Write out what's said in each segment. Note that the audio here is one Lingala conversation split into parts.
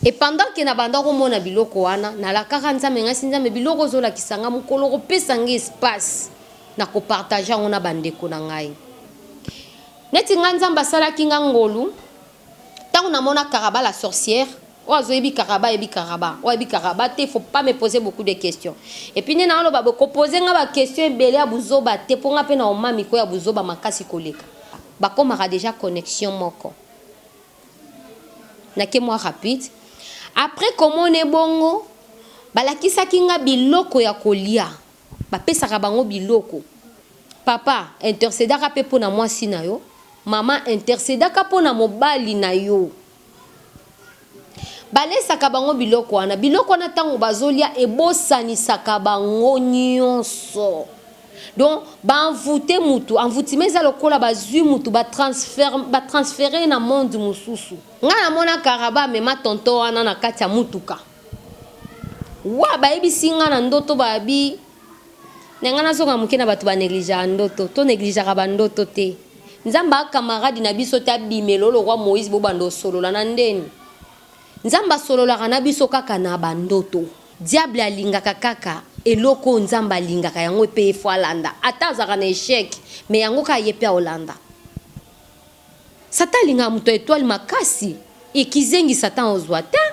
et pendant que na banda komona biloko wana nalakaka nzambe ngasi nzambe biloko ozolakisa ngai mokolo kopesa ngai espace na kopartage yango na bandeko na ngai neti ngai nzambe asalaki ngai ngolu Tango na mona karaba la sorcière oyo azo yebi karaba ayebi karaba oyo ayebi karaba te faut pas me poser beaucoup de question et puis nde na loba boye ko poser nga ba question ebele ya buzoba te po nga pe na oma miko ya buzoba makasi koleka ba komaka dejà connexion moko na ke mwa rapide après ko mona ebongo ba lakisaki nga biloko ya kolia Ba pesaka bango biloko. Papa intercedaka pe pona mwasi na yo, mama intercedaka pona mobali na yo. Ba lesaka bango biloko wana, biloko wana tango bazo lia ebosanisaka bango nionso. Donc ba envouter mutu, envoutement eza lokola bazui mutu ba transferm, ba transferer ye na monde mususu. Nga na mona Karaba amema tonton wana na kati ya mutuka. Wa bayebisi nga na ndoto ba bi na nga nazonga moke na bato ba negligea ndoto to negligaka ba ndoto te nzambe a camarade na biso te abimela olo roi moise bobanda osolola na ndeni nzambe asololaka na biso kaka na ba ndoto diable alingaka kaka eloko oyo nzambe alingaka yango epe ye fo alanda ata azaka na echec me yango kaka ye pe aolanda Satan alingaka moto ya etoile makasi et kizengi Satan ozua tein.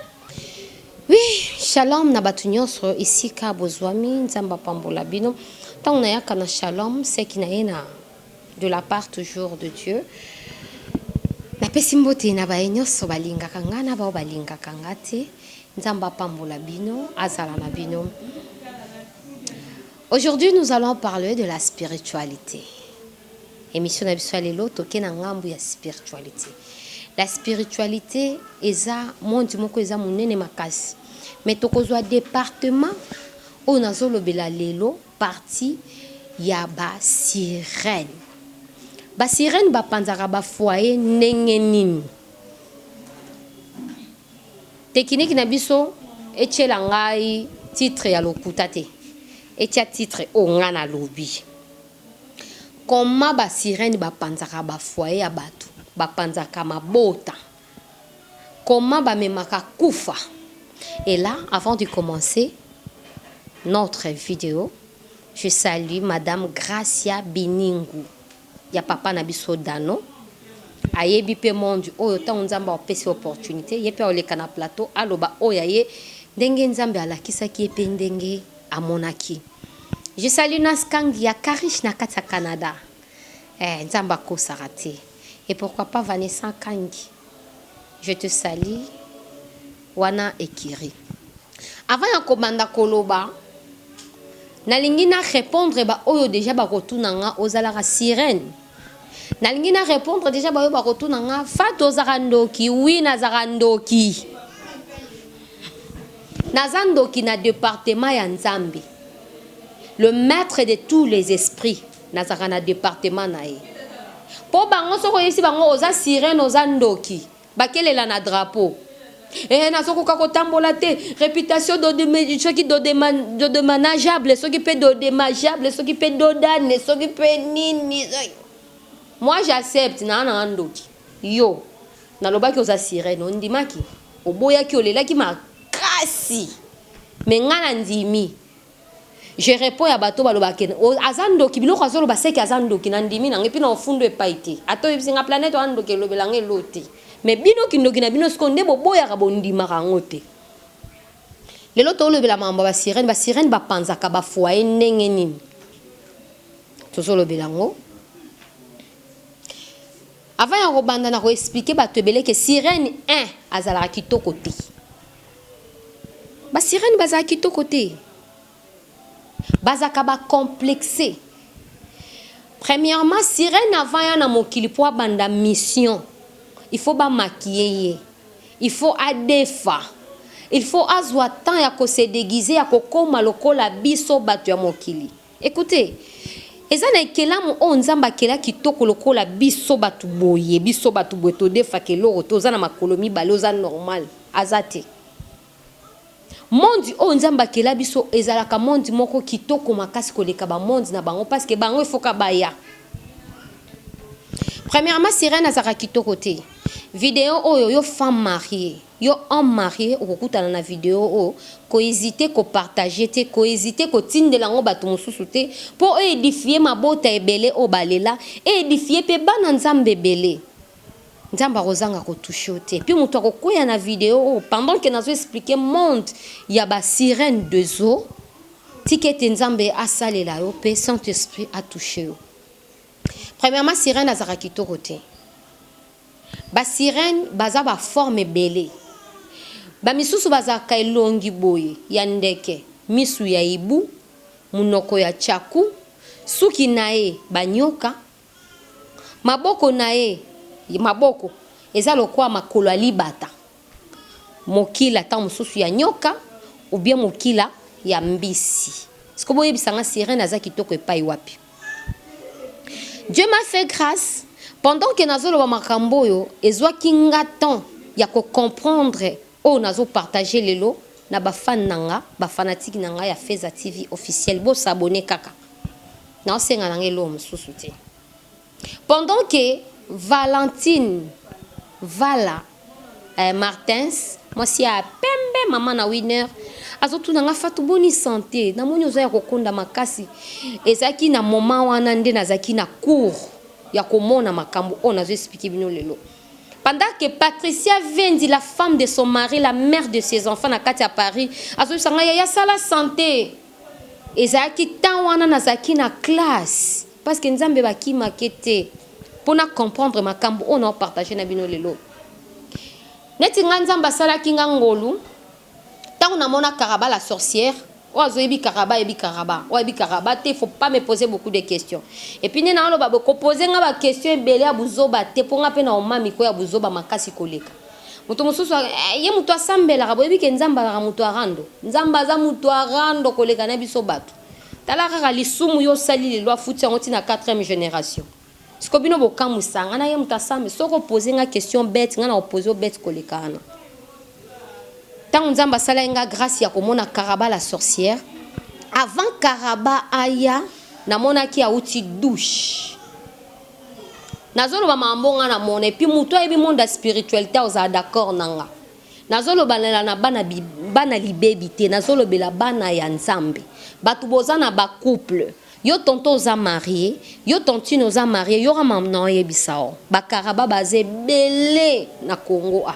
Oui shalom na batu nionso esika bozuami nzambe apambola bino tango nayaka na shalom seki na ye na de la part toujours de Dieu napesi mbote na baye nionso balingaka nga na bao balingaka nga te nzambe apambola bino azala na bino aujourd'hui nous allons parler de la spiritualité Emission na biso ya lelo toke na ngambu ya spiritualite. La spiritualite eza monde moko eza munene makasi. Mais tokozwa departement oyo nazolobela lelo partie ya ba sirènes. Ba sirènes bapanzaka ba foyer ndenge nini? Tekiniki na biso etiela ngai titre ya lokuta te. Etia titre oyo ngai nalobi. Comment ba sirène ba panzaka ba foyer ya batu, ba panzaka mabota, comment ba memaka kufa et là avant de commencer notre video je salue madame Gracia Biningu ya papa na biso Dano ayebi pe monde oyo tango Nzambe apesi opportunite ye pe akoleka na plateau aloba oyo ya ye ndenge Nzambe alakisaki ye pe ndenge amonaki je salut na skank ya karish na kati ya Canada eh nzambe akosaka te et pourquoi pas Vanessa kangi je te salut wana ekiri avant ya kobanda koloba nalingi na répondre ba oyo deja bakotuna nga ozalaka sirène Nalingi na repondre dejà bayo bakotuna nga Fatou ozaka ndoki oui nazaka ndoki naza ndoki na departement ya nzambe le maitre de tous les esprits nazaka na departement na ye po bango soki oyebisi bango oza sirene oza ndoki Bakelela na drapeau eeh nazokoka kotambola te reputation dodeme soki dodema dodemanageable soki pe dodemageable soki pe dodane soki pe nini soki moi j'accepte naa nanga ndoki yo nalobaki oza sirene ondimaki oboyaki olelaki makasi mais ngai nandimi Je reponds ya bato balobaka ke aza ndoki biloko azoloba seke aza ndoki na ndimi nango epuis nao funda epai te ata oyebisi nga planète wana ndoki elobela nga eloo te mais bino kindoki na bino sikoyo nde boboyaka bondimaka yango te lelo tolobela makambo ya ba sirène ba sirène ba panzaka ba foyer ndenge nini tozolobela yango avant ya kobanda na ko expliquer bato ebele ke sirène un azalaka kitoko te Ba sirène bazaka kitoko te bazaka ba complexe premièrement sirène avant ya na mokili po abanda mission il faut ba maquiller ye il faut adefa il faut azua temps ya ko se deguiser ya kokoma lokola biso batu ya mokili. Ecoutez eza na ekelamu oyo nzambe akela kitoko lokola biso batu boye biso batu boye todefaka eloko te oza na makolo mibale oza normal aza te monde oyo nzambe akela biso ezalaka monde moko kitoko makasi koleka ba monde na bango paske bango efoka baya premièrement sirène azalaka kitoko te video oyo yo femme mariee Yo homme marie okokutana na video oyo, ko hesiter ko partager te, ko hesiter ko tindela yango batu mususu te, po o edifier mabota ebele oyo ba lela, e edifier pe bana Nzambe ebele. Nzambe akozanga ko toucher yo te, pe mutu akokweya na video oyo pendant que nazo expliquer monde ya ba sirene de zo, tika ete Nzambe asalela yo pe Saint Esprit a toucher yo. Premièrement sirene azalaka kitoko te. Ba sirènes baza ba formes ebele. Ba misusu bazalaka elongi boye ya ndeke, misu ya hibou, munoko ya tshaku, suki naye ba nyoka, maboko naye, maboko eza lokola makolo ya libata. Mokila tango mosusu ya nyoka ou bien mokila ya mbisi. Sikoyo boyebisa nga sirene aza kitoko epai wapi? Dieu m'a fait grace pendant que nazoloba makambo oyo ezwaki nga temps ya ko comprendre oyo nazo partager lelo na ba fan na nga ba fanatique na nga ya Feza TV officiel bo s'abonner kaka naosenga na nga eloko mosusu te. Pendant que Valentine Vala eh, Martins mwasi ya pembe mama na Winner azotuna nga Fatou boni sante na moni oza ya kokonda makasi ezalaki na moment wana nde nazalaki na cours ya komona makambo oyo nazo expliquer bino lelo pendant que Patricia Vendi la femme de son mari la mère de ses enfants na kati ya Paris azobisa nga yaya sala sante Ezalaki temps wana nazalaki na classe parce que nzambe ba kimake te po na comprendre makambu oyo nao partager na bino lelo neti nga nzambe asalaki nga ngolu tango na mona karaba la sorcière oyo azoyebi karaba ayebi karaba oyo ayebi karaba te faut pas me poser beaucoup de questions et puis nde naoloba boye ko poser nga ba questions ebele ya buzoba te po nga pe na omami ko ya buzoba makasi koleka Moto mosusu a, eh, ye moto asambelaka, boyebi ke Nzambe azalaka moto ya rando. Nzambe aza moto ya rando koleka na biso bato. Tala kaka lisumu yo osali lelo, afuti yango ti na quatrième generation. Sikoyo bino bokamwisa nga, na ye moto asambe. Soki o poser nga question bete, nga nako poser yo bete koleka wana. Tango Nzambe asalaki nga grace ya komona Karaba la sorcière, avant Karaba aya, namonaki awuti douche. Nazo loba mambo nga na mona et puis mutu ayebi monde ya spiritualite akozala d'accord na nga. Nazo lobalela na bana bana libebi te, nazo lobela bana ya Nzambe. Batu boza na ba couple, yo tonton oza marie, yo tantine oza marie, yoka mambo na oyebisa yo. Ba karaba baza ebele na Congo awa.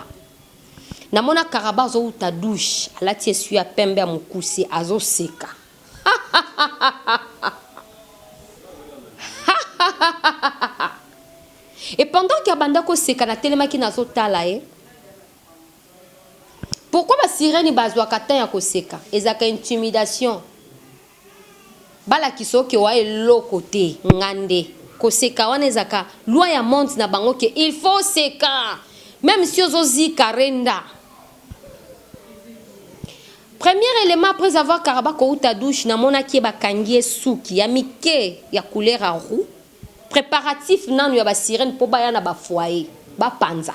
Namona karaba azo wuta douche, alati esui ya pembe ya mukuse, azo seka. Et pendant que abanda ko seka na telemaki nazo tala ye. Pourquoi ba sirène bazwaka temps ya koseka? Ezalaka intimidation. Balakisa yo ke oa eloko te, nga nde. Koseka wana ezalaka loi ya monde na bango ke il faut oseka meme si ozo zika renda. Premier element après avoir karaba kowuta douche na monaki ye ba kangi ye suki ya mike ya couleur ya roux preparatif nanu ya ba sirene po baya na ba foyer ba panza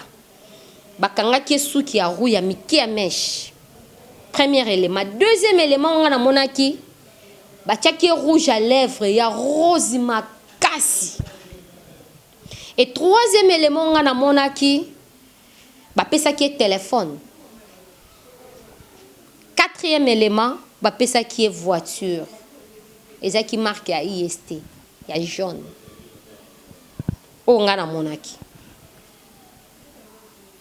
ba kangaki ye suki ya roux ya mike ya meche premier element deuxième element nga na monaki ba tiaki ye rouge ya lèvre ya rose makasi et troisième element nga na monaki bapesaki ye telephone, quatrième element bapesaki ye voiture ezalaki marque ya IST ya jaune oyo nga na monaki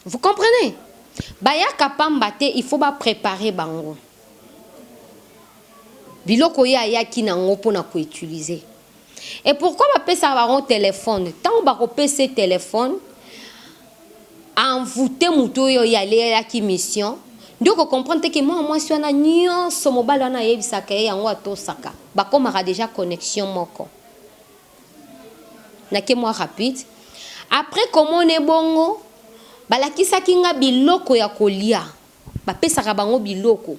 vous comprenez? Bayaka pamba te il faut ba preparer bango biloko ye ayaki na ngo pona ko utiliser. Et pourquoi ba pesaka bango telephone? Tango bako pesa ye telephone a envouter mutu oyo alelaki mission nde oko comprendre te que mwana mwasi wana nionso mobali wana ayebisaka ye yango atosaka. Bakomaka dejà connexion moko. Nake mwa rapide. Après komona ye bongo, balakisaki nga biloko ya kolia. Ba pesaka bango biloko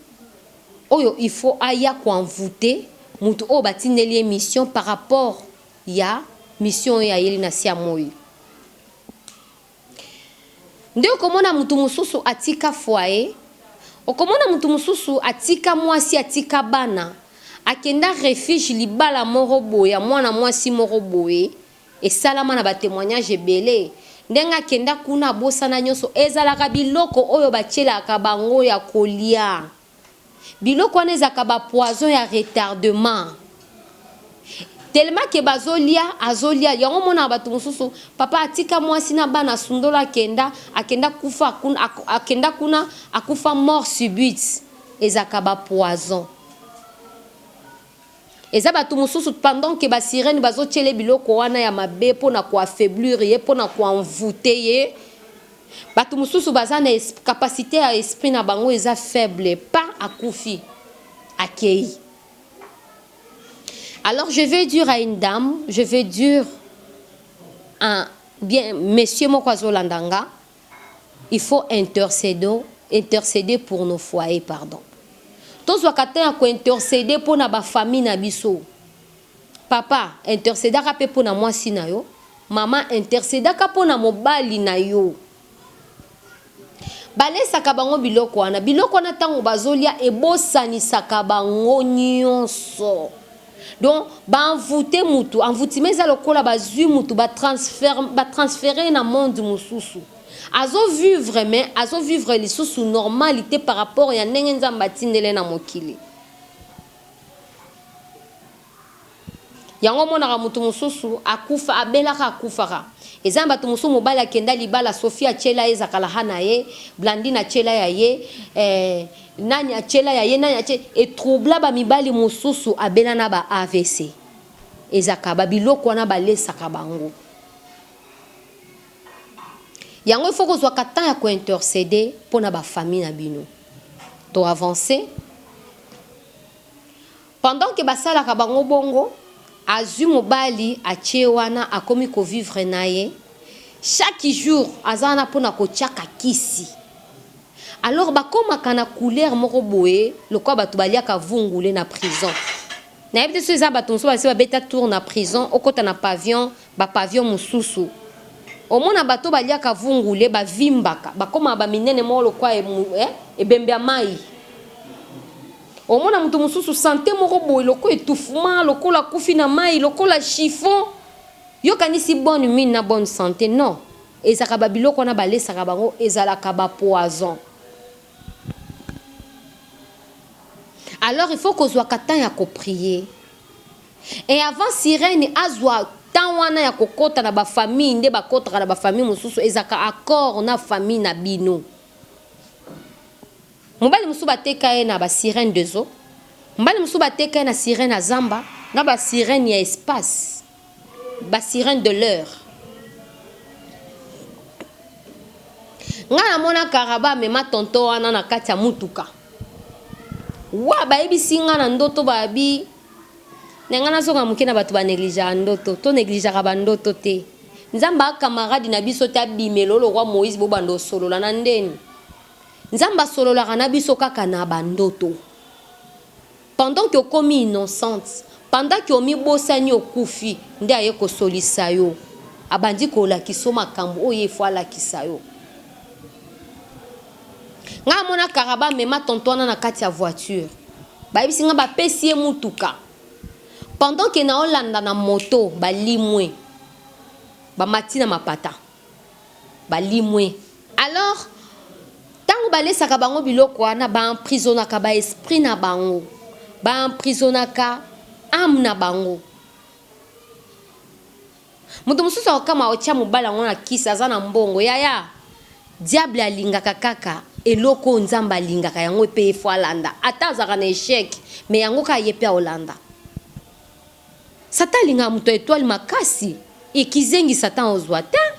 oyo il faut aya ko envouter mutu oyo ba tindeli ye mission par rapport ya mission oyo ayeli na se ya moyi. Nde oko mona mutu mususu atika foyer, oko mona mutu mususu atika mwasi, atika bana, akenda refuge libala moko boye ya mwana mwasi moko boye, Esalama na ba temoignages ebele. Ndenge akenda kuna abosana nionso. Ezalaka biloko oyo batielaka bango ya kolia. Biloko wana ezalaka ba poisons ya retardement. Tellement que bazolia, azolia. Yango omonaka batu mosusu, papa atika muasi na bana asundola akenda, akenda akufa akenda kuna akufa mort subite. Ezalaka ba poisons. Eza batu mususu pendant que ba sirene bazo tiele biloko wana ya mabe pona ko affaiblir ye pona ko envouter ye batu mususu baza na capacite ya esprit na bango eza faible pa akufi akeyi alors je veux dire à une dame je veux dire un bien monsieur moko azolanda nga il faut intercedons interceder pour nos foyers pardon tozwaka temps ya ko interceder pona ba famille na biso papa intercedaka pe pona mwasi na yo maman intercedaka pona mobali na yo balesaka bango biloko wana biloko wana tango bazolia ebosanisaka bango nionso Donc ba envoute mutu, envoutement eza lokola bazui mutu ba transfer ba transfere ye na monde mususu. Azo vivre mais azo vivre lisusu normal te par rapport ya ndenge Nzambe atindeli ye na mokili. Yango omonaka mutu mususu akufa abelaka akufaka. Eza na batu mususu mobali akenda libala Sophie atiela ye zakalahana ye, Blandine atiela ya ye eh, Nani atiela ya ye nani atie e troubla ba mibali mususu abela na ba avc ezaka ba biloko wana balesaka bango yango il faut kozwaka temps ya ko intercede pona ba famille na bino to avance Pendant que basalaka bango bongo, azui mobali atie wana akomi ko vivre naye, chaque jour aza wana pona kotiaka kisi. Alors bakomaka na couleur moko boye lokola batu baliaka vungule na prison. Nayebi te soki eza batu mosusu basi babeta tour na prison, okota na pavion, ba pavion mosusu, omona batu oyo baliaka vungule bavimbaka, bakomaka ba minene moko lokola ebembe ya mayi. Omona mutu mususu sante moko boye lokola etouffement, lokola akufi na mayi, lokola chiffon. Yo kanisi bonne mine na bonne sante non ezalaka ba biloko wana balesaka bango ezalaka ba poison. Alors il faut kozwaka temps ya ko prier et avant sirene azwa temps wana ya kokota na ba famille nde bakotaka na ba famille mususu ezalaka accord na famille na bino. Mobali mosusu bateka ye na ba sirene de zo, mobali mosusu bateka ye na sirene ya zamba, na ba sirene ya espace, ba sirene de l'heure. Nga na mona karaba amema tonton wana na kati ya mutuka wa bayebisi nga na ndoto babi na nga nazonga moke na bato ba negligeaka ndoto to negligeaka ba ndoto te nzambe a camarade na biso te abimela olo kwa moise bobanda osolola na ndeni Nzambe asololaka na biso kaka na ba ndoto pendant que okomi innocente pendant que omi bosani okufi nde aye kosolisa yo abandi kolakiso makambu oyo ye faut alakisa yo nga amona kaka ba mema tonto wana na kati ya voiture bayebisi nga bapesi ye mutuka pendant que naolanda na moto balimwe bamati na mapata balimwe. Alors tango balesaka bango biloko wana ba emprisonaka ba esprit na bango, ba emprisonaka ame na bango. Moto mosusu akokamwa otia mobali yango na kisi aza na mbongo yaya diable alingaka kaka eloko oyo nzambe alingaka yango ye pe ye faut alanda ata azalaka na echec mais yango kaka ye pe akolanda. Satan alingaka moto ya etoile makasi et kizengi Satan ozua tein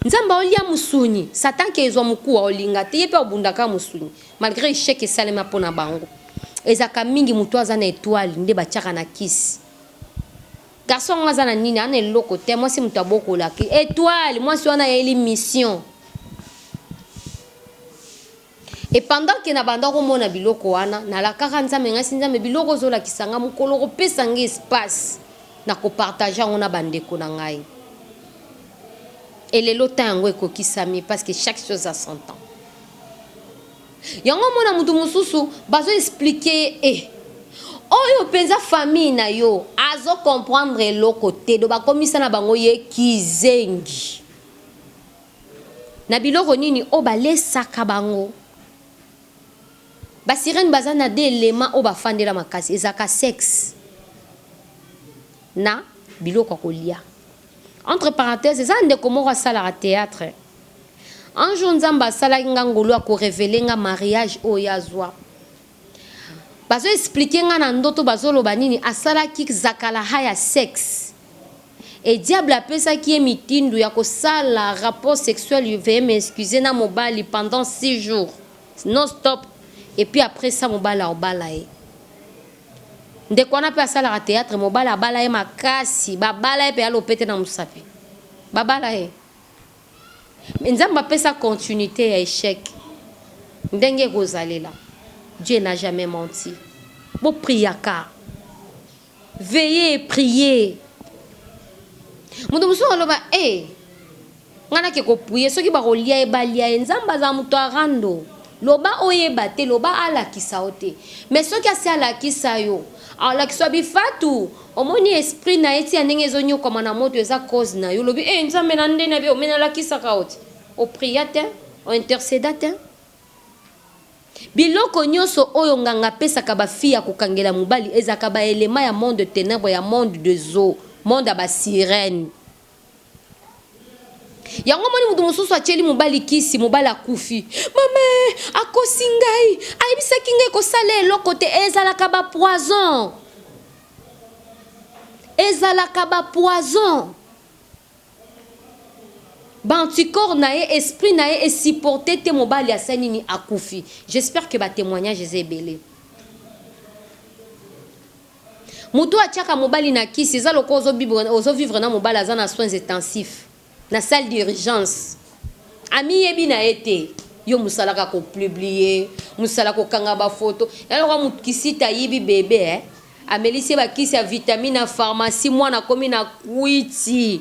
Nzambe aolia musuni Satan ke ezua mukuwa olinga te ye pe akobunda kaka musuni malgre echec esalema pona bango ezaka mingi moto aza na etoile nde batiaka na kisi garçon yango aza na nini ana eloko te mwasi moto abokolaki etoile mwasi wana ayeli mission Et pendant que na banda ko mona biloko wana, na lakaka Nzambe, ngai si Nzambe biloko ozo lakisa ngai mokolo oko pesa ngai espace na ko partager yango na ba ndeko na ngai. Et lelo temps yango ekokisami parce que chaque chose a son temps. Yango mona mutu mususu bazo expliquer ye eh oyo mpenza famille na yo azo comprendre eloko te do bakomisa na bango ye kizengi Na biloko nini oyo ba lesaka bango. Ba sirène baza na deux elements oyo ba fandela makasi ezalaka sex na biloko ya kolia entre parenthèse eza na ndeko moko asalaka theatre un jour nzambe asalaki nga ngolu ako revele nga mariage oyo ye azua Bazo explique nga na ndoto bazo loba nini asalaki zakalaha ya sex et diable apesaki ye mitindo ya kosala rapport sexuel veuillez m'excuser na mobali pendant six jours non stop et puis après ça mobali aobala ye ndeko wana pe asalaka theatre mobali abala ye makasi babala ye pe ya lopete na musapi babala ye Mais nzambe apesa continuite ya echec ndenge ekozalela Dieu n'a jamais menti bo priaka veille et prier moto mosusu aloba eh nga nake ko prier soki bakolia ye balia ye nzambe azala moto ya rando. Loba oyeba te loba alakisa yo te mais soki asi alakisa yo alakisa yo bifatu omoni esprit naye ti ya ndenge ezo niokwama na moto eza cause nayo olobi eh nzambe na nde nabi yo mais nalakisaka yo te o pria te o interceda te biloko nioso oyo nganga apesaka ba fille ya kokangela mobali ezalaka ba element ya monde de tenebre ya monde de zo monde ya ba sirene. yango omoni moto mosusu atyeli mobali kisi mobali akufi mama akosi ngai ayebisaki ngai kosala eloko te ezalaka bapoison ezalaka bapoison baanticorps na ye esprit na ye esupporte te mobali asa nini akufi j'espère que batémoignage eza ebele Mutu atiaka mobali na kisi eza lokola ozo bibre ozo vivre na mobali aza na soins etensif na salle d'urgence amiyebi na ye te yo musala ka ko plublier musala ko kanga ba photo ya lokola mutu kisita ayibi bebe eh amelisi ye ba kisi ya vitamine ya pharmacie mwana akomi na kwiti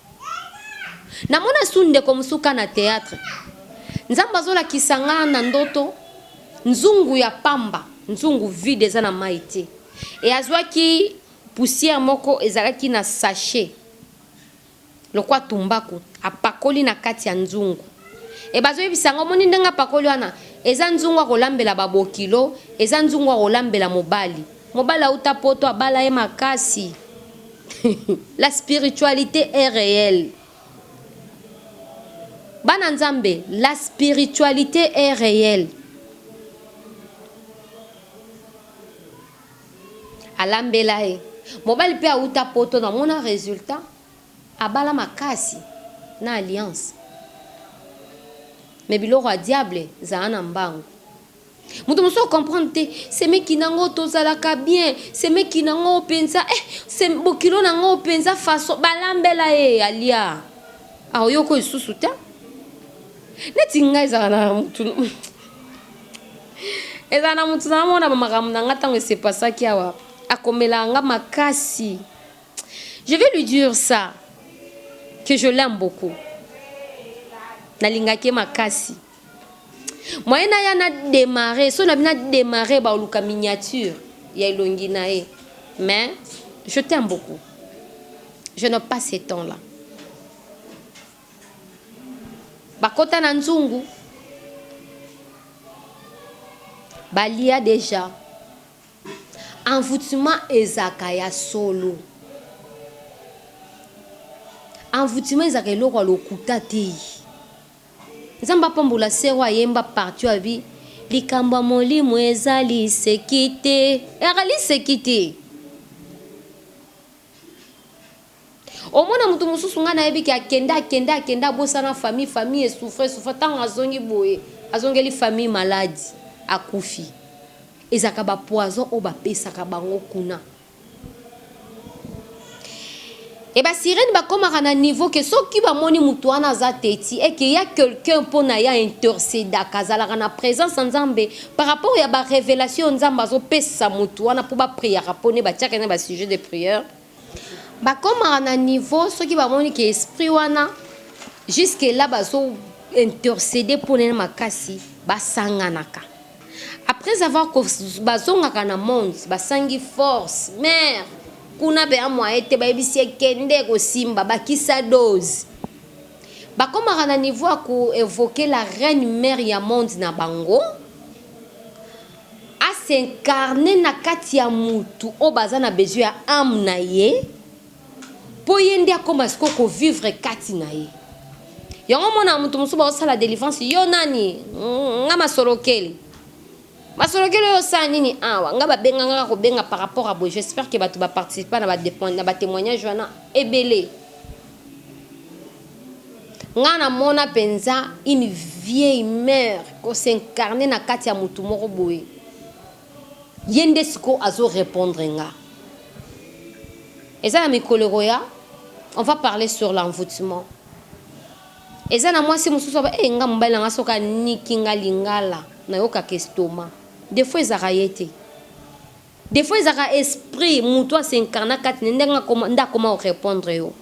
Na mona su ndeko mosusu ka na theatre nzambe azo lakisa nga na ndoto nzungu ya pamba nzungu vide eza na mayi te et azuaki poussière moko ezalaki na sachet lokwa tumbaku apakoli na kati ya nzungu et bazo yebisa nga omoni ndenge apakoli wana eza nzungu ya kolambela ba bokilo eza nzungu ya kolambela mobali mobali awuta poto abala ye makasi La spiritualite est reelle bana nzambe la spiritualite est reelle alambela ye mobali pe awuta poto na mona resultat abala makasi na alliance mais biloko ya diable zala na mbangu Moto mosusu ako comprendre te semeki na ngo tozalaka bien semeki na ngo penza eh se bokilo na ngo penza façon balambela ye alia akoyoka lisusu te neti ngai ezala na motu ezala na motu na mona bamakambo na ngai ntango esepasaki awa akomelaka nga makasi je vais lui dire ça que je l'aime beaucoup nalingaki ye makasi Moyen na ya na demarrer, so na bina demarrer ba oluka miniature ya elongi na ye. Mais je t'aime beaucoup. Je n'ai pas ce temps là. Bakota na nzungu. Balia déjà. Envoûtement ezaka ya solo. Envoûtement ezaka eloko ya lokuta te. Nzambe apambola sœur oyo ayemba partie oyo alobi likambo ya molimo eza liseki te eaka liseki te omona mutu mususu ngai nayebi ke akenda akenda akenda abosana famille famille esouffre esouffre ntango azongi boye azongeli famille maladi akufi ezalaka bapoison oyo bapesaka bango kuna Et ba sirène ba komaka na niveau que soki ba moni mutu wana aza teti et que y'a quelqu'un pona y'a intercedaka azalaka na presence ya nzambe par rapport ya ba revelation oyo nzambe azo pesa mutu wana po ba priaka pona ye ba tiaka ye na ba sujet de prière ba komaka na niveau soki ba moni que esprit wana jusque là bazo interceder pona ye makasi ba sanganaka Après avoir ko bazongaka na monde basangi force mère kuna bea moyen te bayebisi ye kende ekosimba bakisa dose bakomaka na niveau ya ko evoquer la reine mère ya monde na bango a s'incarner na kati ya mutu oyo baza na besoin ya ame na ye Po ye nde akoma sikoyo ko vivre kati na ye. Yango omonaka mutu mosusu bazo sala delivrance yo nani nga masolokeli. Masolokeli oyo osala nini awa? Nga ba benga nga kaka ko benga par rapport ya boye j'espère que batu ba participa na ba temoignage wana ebele. Nga na mona penza une vieille mère ko s'incarner na kati ya mutu moko boye. Ye nde sikoyo azo repondre nga. Eza na mikolo ekoya on va parler sur l'envoutement. Eza na mwasi mususu aba eh nga mobali na nga soki aniki nga lingala na yokaka estomac. Defaut ezalaka ye te. Defaut ezalaka esprit mutu a s'incarna kati na ye nde akoma ko repondre yo.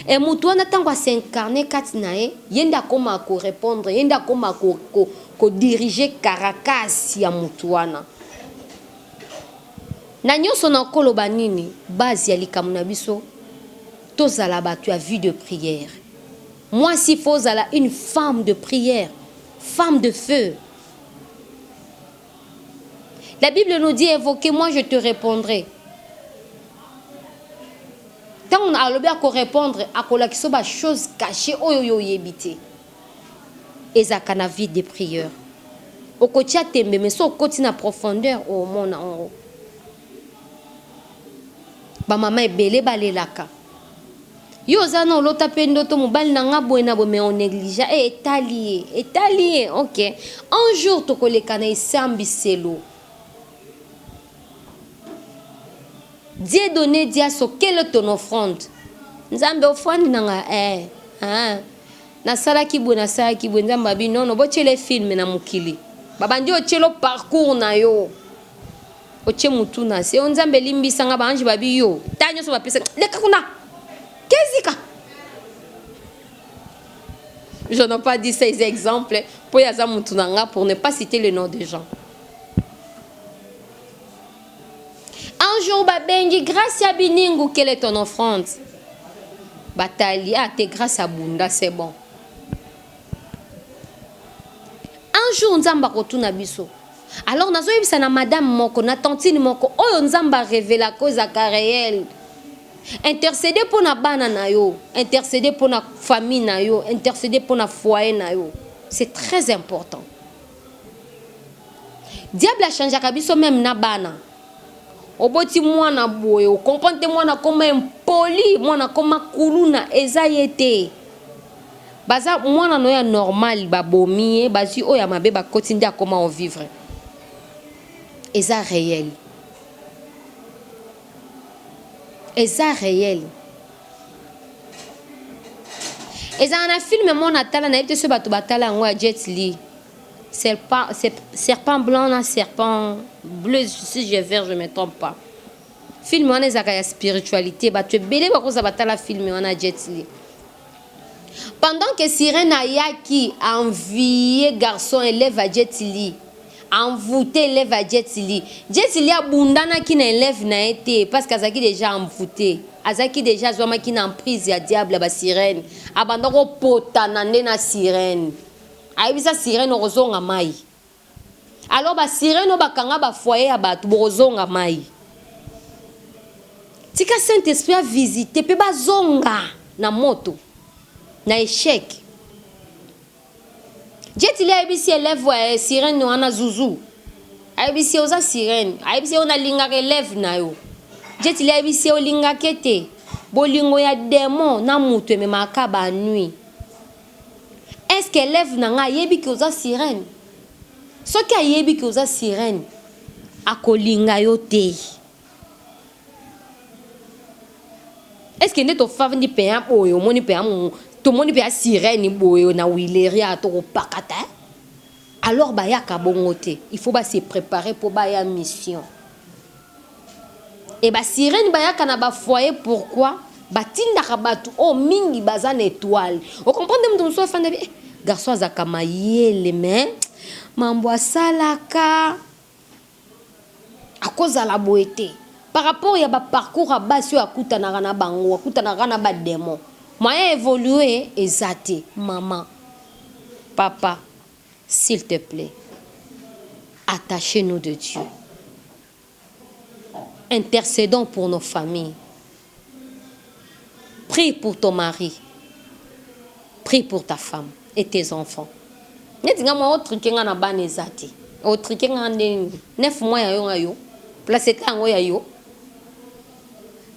Et mutu wana tango a s'incarner kati na ye, ye nde akomaka ko repondre, ye nde akomaka ko diriger Caracas ya mutu wana. Na nionso nako loba nini, base ya likambo na biso, tozala batu ya vie de prière. Muasi il faut ozala une femme de prière, femme de feu. La Bible nous dit invoquez moi je te répondrai. Tant a alobi à répondre à kolakisa ba choses cachées oyo yo yebite. Eza kana vie de prière. Okotia tembe mais so koti na profondeur au mona ongo. ba mama ebele balelaka yo oza na olota mpe ndoto mobali na nga boye na boye mais on negligea e eh, etali ye etali ye ok un jour tokoleka na esambiselo die donne diaso quelle ton offrande nzambe ofandi na nga eh, eh. nasalaki boye nasalaki boye nzambe abi nono botyele filme na mokili babandi otyelo parcours na yo Otie mutu na se oh nzambe limbisa nga ba ange ba bi yo ta nioso ba pesa leka kuna kezika Je n'ai pas dit ces exemples pour yaza mutu na nga pour ne pas citer le nom des gens. Un jour babengi grâce ya biningu quelle est ton offrande? Batali ah t'es grâce à bunda c'est bon. Un jour nzamba kotuna biso Alors nazo yebisa na madame moko na tantine moko oyo nzambe a revela ko ezaka reel intercede mpo na bana na yo intercede mpo na famille na yo intercede mpo na foyer na yo c'est très important diable achangeaka biso meme na bana Oboti muana boye o comprendre te muana akoma impoli muana akoma kuluna eza ye te baza muana no ya normal ba bomi ye bazui oyo ya mabe ba koti nde akoma o vivre eza reel eza reel ezala na film mona tala na yebi te soki batu batala yango ya jet lee Serpent blanc na serpent bleu si je vert je me trompe pas film wana ezalaka ya spiritualite batu ebele bakoza batala film wana Jet Li pendant que sirène ayaki envie garçon élève à Jet Li envoûté élève à Jet Li Jet Li abundanaki na élève na ye te parce que azalaki déjà envoûté azalaki déjà azwamaki na emprise ya diable ba sirène abanda ko potana nde na sirène ayebisa sirene okozonga mai alors ba sirene bakanga ba foyer ya bato bokozonga mai tika saint esprit avisite mpe bazonga na moto na echec jetili ayebisi elève ya eh, sirene wana zuzu ayebisi oza sirene ayebisi yo nalingaka elève na yo jetili ayebisi olingaka te bolingo ya demon na moto ememaka banui Est-ce que elève na nga ayebi que oza sirene? Soki ayebi que oza sirene, ako linga yo te. Est-ce que nde to fandi pena boye omoni pena to moni pena sirene boye na Willeria toko pakata hein? Alors ba yaka bongo te, il faut ba se preparer po ba ya mission. Et ba sirene bayaka na ba foyer pourquoi? Batindaka batu oyo mingi baza na etoile. O comprendre mutu mususu afanda bien eh garçon azalaka mayele mais mambu asalaka akozala boye te par rapport ya ba parcours ya basi oyo akutanaka na bango akutanaka kaka na ba demon moyen evolue eza te maman papa s'il te plait attache nous de Dieu. Intercedons pour nos familles prie pour ton mari prie pour ta femme et tes enfants neti nga mwa otrike nga na bana eza te otrike nga nde nini nef mwa ya yo nga yo place ete yango ya yo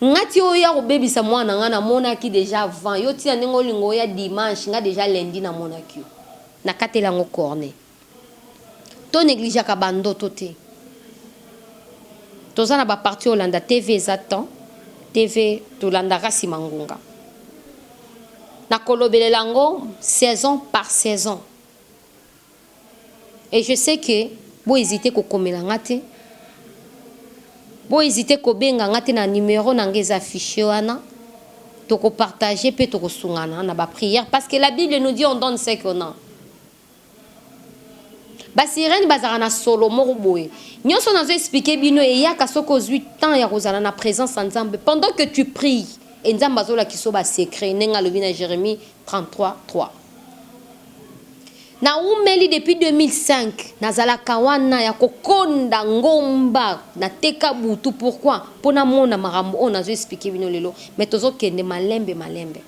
nga ti oyo ya kobebisa mwana nga namonaki deja avant yo tina ndenge olinga oya dimanche nga deja lundi namonaki yo nakatela yango corne To negligeaka ba ndoto te. Toza na ba partie olanda TV eza temps TV tolandaka sima ngunga. Na kolobelela yango saison par saison. Et je sais que bo hesiter ko komela nga te. Bo hesiter ko benga nga te na numero na nga eza afficher wana. Toko partager pe toko sungana na ba prières parce que la bible nous dit on donne ce qu'on a. Ba sirène bazalaka na solo moko boye. Nionso nazo expliquer bino eyaka soki ozui temps ya kozala na presence ya Nzambe pendant que tu pries et Nzambe azo lakisa yo ba secrets ndenge alobi na Jeremie 33, 3. Na wumeli depuis 2005 nazalaka wana ya ko konda ngomba na teka butu pourquoi? Po na mona makambo oyo nazo expliquer bino lelo mais tozo kende malembe malembe.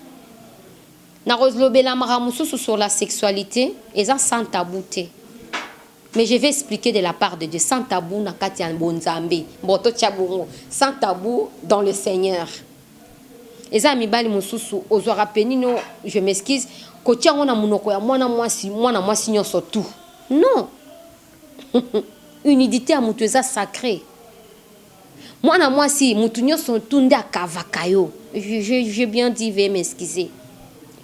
Nakolobela makambo mosusu sur la sexualite eza sans tabou te mais je vais expliquer de la part de Dieu sans tabou na kati ya bonzambe bon totia bongo sans tabou dans le seigneur eza ya mibali mosusu ozwaka penino je m'excuse kotia yango na monoko ya mwana mwasi mwana mwasi nyonso tout non unidite ya moto eza sacre Mwana mwasi mutu nionso tout nde akavaka yo j'ai bien dit veuillez m'excuser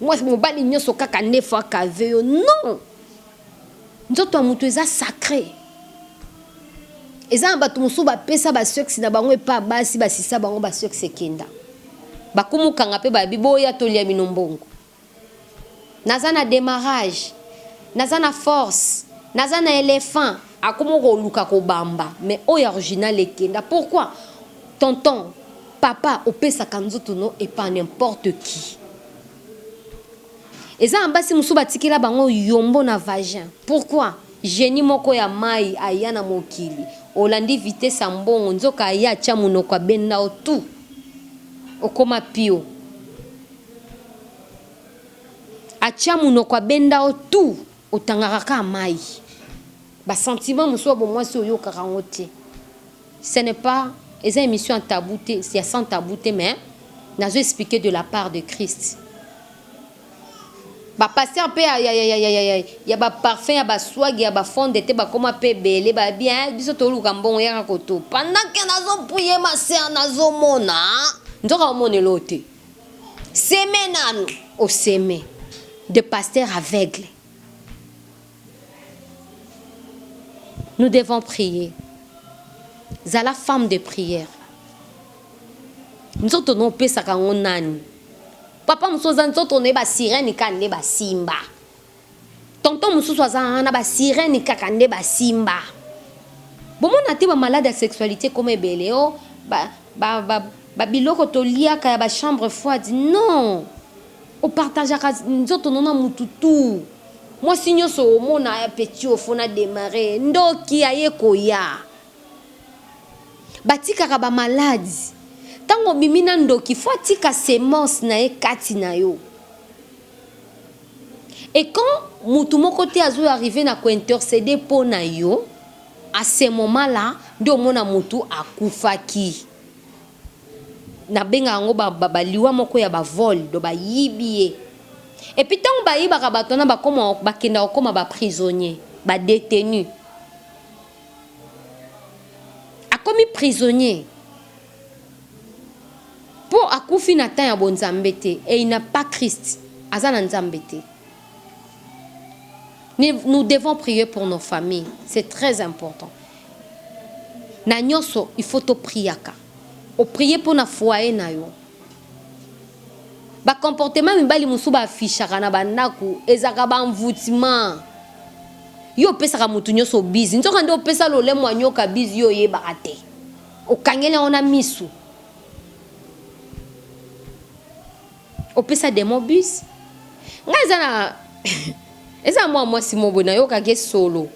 mwasi mobali nionso kaka nde faut akave yo non nzoto ya mutu eza sacre eza na bato mosusu bapesa basexe na bango epa basi basisa bango basexe ekenda bakumukanga mpe babi boya tolia bino mbongo naza na demarrage naza na force naza na elephant akoma koluka kobamba mais oyo original ekenda pourquoi tonton papa opesaka nzoto no epa n'importe qui eza na basi mosusu batikela bango yombo na vagin pourquoi genie moko ya mai aya na mokili olandi vitesse ya mbongo nzoka aya atya monoko abenda yo tout okoma pio Atia munoko abenda yo tout otangaka kaka mayi ba sentiment mosusu ya bomwasi oyokaka yango te ce n'est pas eza emission ya tabou te ya sans tabou te mais nazo explique de la part de Christ ba pasteur pe ya ya ya ya ya ba parfum ya ba swag ya ba fond de te bakoma pe ebele ba bien biso toluka mbongo yaka koto pendant que nazo prier ma sœur nazo mona nzoka omonela yo te. Seme nanu o seme de pasteur aveugle nous devons prier zala femme de prière nzoto no opesaka yango nani papa mosusu aza nzoto no ye ba sirene kani nde basimba Tonton mususu aza haa na ba sirene kaka nde ba simba. Bo mona te ba malade ya sexualite ekoma ebele oh ba ba ba ba biloko to liaka ya ba chambre froide non o partageaka nzoto no na mutu tout mwasi nionso o mona aya petit oyo faut na demarrer ye ndoki aye koya. Ba tikaka ba malade tango obimi na ndoki faut atika semence naye kati nayo Et quand mutu moko te azo arriver na ko interceder po na yo, à ce moment là nde omona mutu akufaki. Na benga yango ba liwa moko ya ba vols, donc ba yibi ye. Et puis tango ba yibaka batu wana ba koma ba kenda ko koma ba prisonniers, ba detenus. Akomi prisonnier. Po akufi na temps ya bo nzambe te et il n'a pas Christ aza na nzambe te nous devons prier pour nos familles c'est très important na nionso il faut to priaka o prier pona foyer na yo ba comportement mibali mosusu ba affichaka na ba ndaku ezalaka ba envoutement yo opesaka mutu nionso bise nzoka nde opesa lolemo anyoka bise yo oyebaka te. Okangeli yango na misu. Opesa demon bus. Nga eza na eza mwa mwasi mobo na yoka ke solo.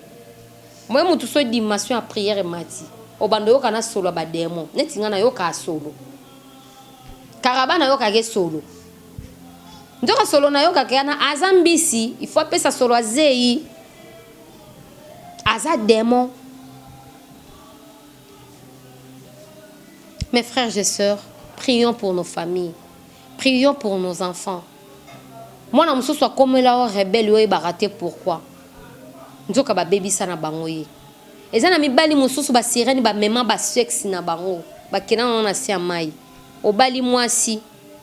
Moye mutu so dimension ya prière mati. Obando yoka na solo ba demon. Neti nga na yoka solo. Karaba na yoka ke solo. Ndoka solo na yoka ke na aza mbisi. Il faut pesa solo azeyi. Aza demon. Mes frères et sœurs, prions pour nos familles. Prions pour nos enfants. Mwana mosusu akomela yo rebelle oyebaka te pourquoi. Nzoka babebisa na bango ye. Eza na mibali mosusu ba sirène ba mema ba sexe na bango. Ba kenda na na se ya mai. Obali mwasi,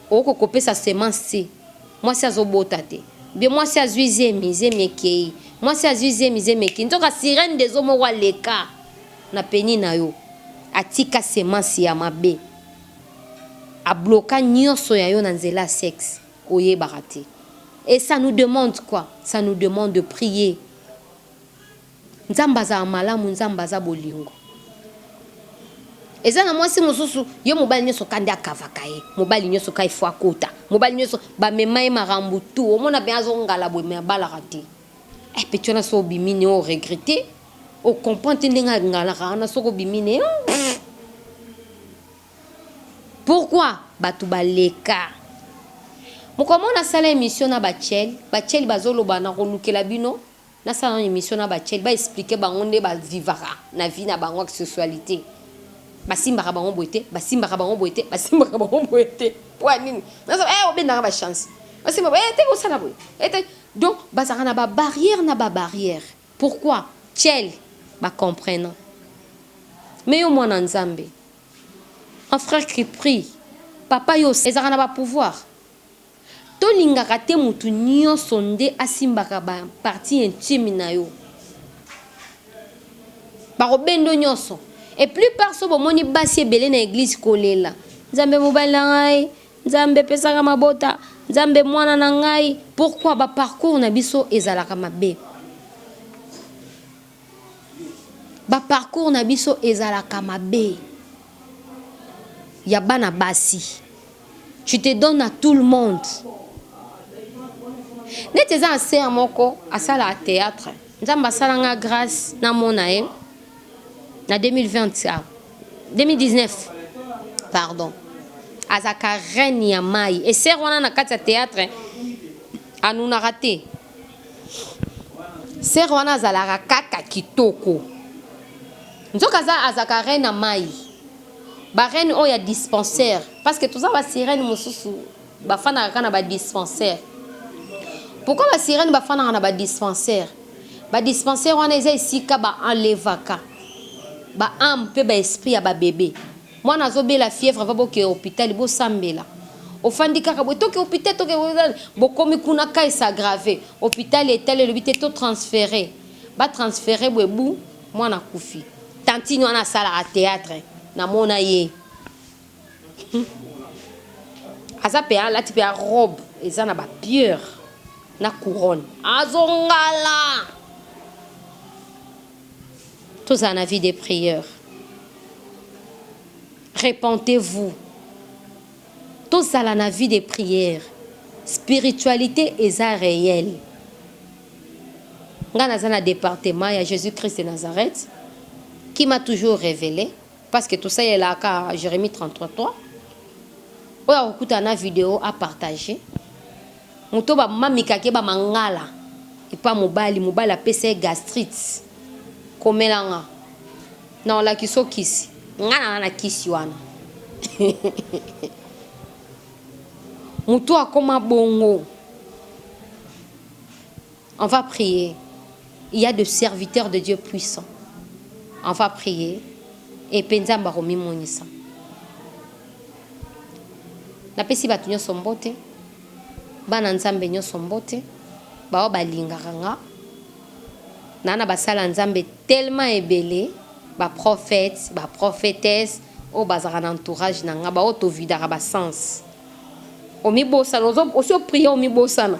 oko kopesa semence te. Mwasi azobota te. Bien mwasi azui zemi, zemi ekei. Mwasi azui zemi, zemi ekei. Nzoka sirène des eaux moko aleka. na peni na yo atika semence ya mabe a bloka nioso ya yo na nzela ya sexe oyebaka te et ça nous demande quoi ça nous demande de prier nzambe azala malamu nzambe aza bolingo eza na mwasi mosusu yo mobali nioso kande akavaka ye mobali nioso ka ifo akota mobali nioso bamema ye makambo tu omona pe azongala boye me abalaka te Eh petiola so obimi ne o regrette o comprend te ndenge angalaka wana soki obimi ne pourquoi batu baleka mokolo moko nasala emission na bachel bachel bazoloba nakolukela bino nasala nano emission na bachel ba explique bango nde ba vivaka na vie na bango ya sexualité basimbaka bango boye te basimbaka bango boye te basimbaka bango boye te mpo ya nini nazo eh obendaka ba chance osimba boye eh, te osala boye eh, te Donc bazalaka na ba barrières na ba barrières pourquoi cel ba comprenant mais yo mwana nzambe un frère qui prie papa yo ezalaka na ba pouvoir tolingaka te mutu nioso nde asimbaka ba partie intime na yo bako bendo nioso et plus part so bomoni basi ebele na eglise kolela nzambe mobali na ngai Nzambe pesaka mabota nzambe muana na ngai pourquoi ba parcours na biso ezalaka mabe ba parcours na biso ezalaka mabe ya bana basi tu te donne à tout le monde neti eza na sere moko asalaka théâtre nzambe asala nga grâce namona ye na 2020 sia 2019 pardon azaka reine ya mai eser wana na kati ya théâtre anunaka te ser wana azalaka kaka kitoko nzoka aza azaka reine ya mai barene oyo ya dispensaire parce que toza basirene mosusu Bafandaka kaka na ba dispensaires. Pourquoi ba sirènes bafandaka na ba dispensaires? Ba dispensaires wana eza esika ba enlevaka ba ames pe ba esprits ya ba bebe. Mwana azobela fièvre va boke hopital bosambela. Ofandi kaka boye toke hopital toke hopital bokomi kuna cas e s'aggraver hopital etali elobi te to transferer ba transferer boye bu mwana akufi. Tantine wana asalaka theatre namona ye. Aza pe alati pe robe eza na ba pierre na couronne azo ngala. Tozala na vie de prière. Repentez-vous. Tozala na vie de prière. Spiritualité eza réelle. Nga naza na département ya Jésus-Christ de Nazareth qui m'a toujours révélé Parce que tosalelaka Jeremie 33 3 oyo akokutana na video a partage moto ba mamikake ba mangala epa mobali mobali apesa ye gastrite komela nga na olakisa okisi nga na na kisi wana moto akoma bongo On va prier. Il y a de serviteurs de Dieu puissants. On va prier. Et Penzamba Romi Monisa. napesi bato nyonso mbote bana nzambe nyonso mbote baoyo balingaka nga naa na basala nzambe tellement ebele baprophète baprophétesse oyo bazalaka na entourage na nga baoyo tovidaka basens omibosana osi oprie omibosana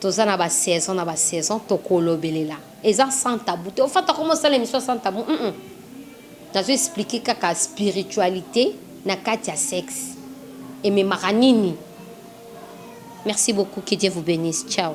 Toza na ba saison na ba saison tokolobelela eza sans tabou te ofata koma osala emission sans tabou hum nazo explique kaka spiritualite na kati ya sexe ememaka nini merci beaucoup que Dieu vous benisse ciao.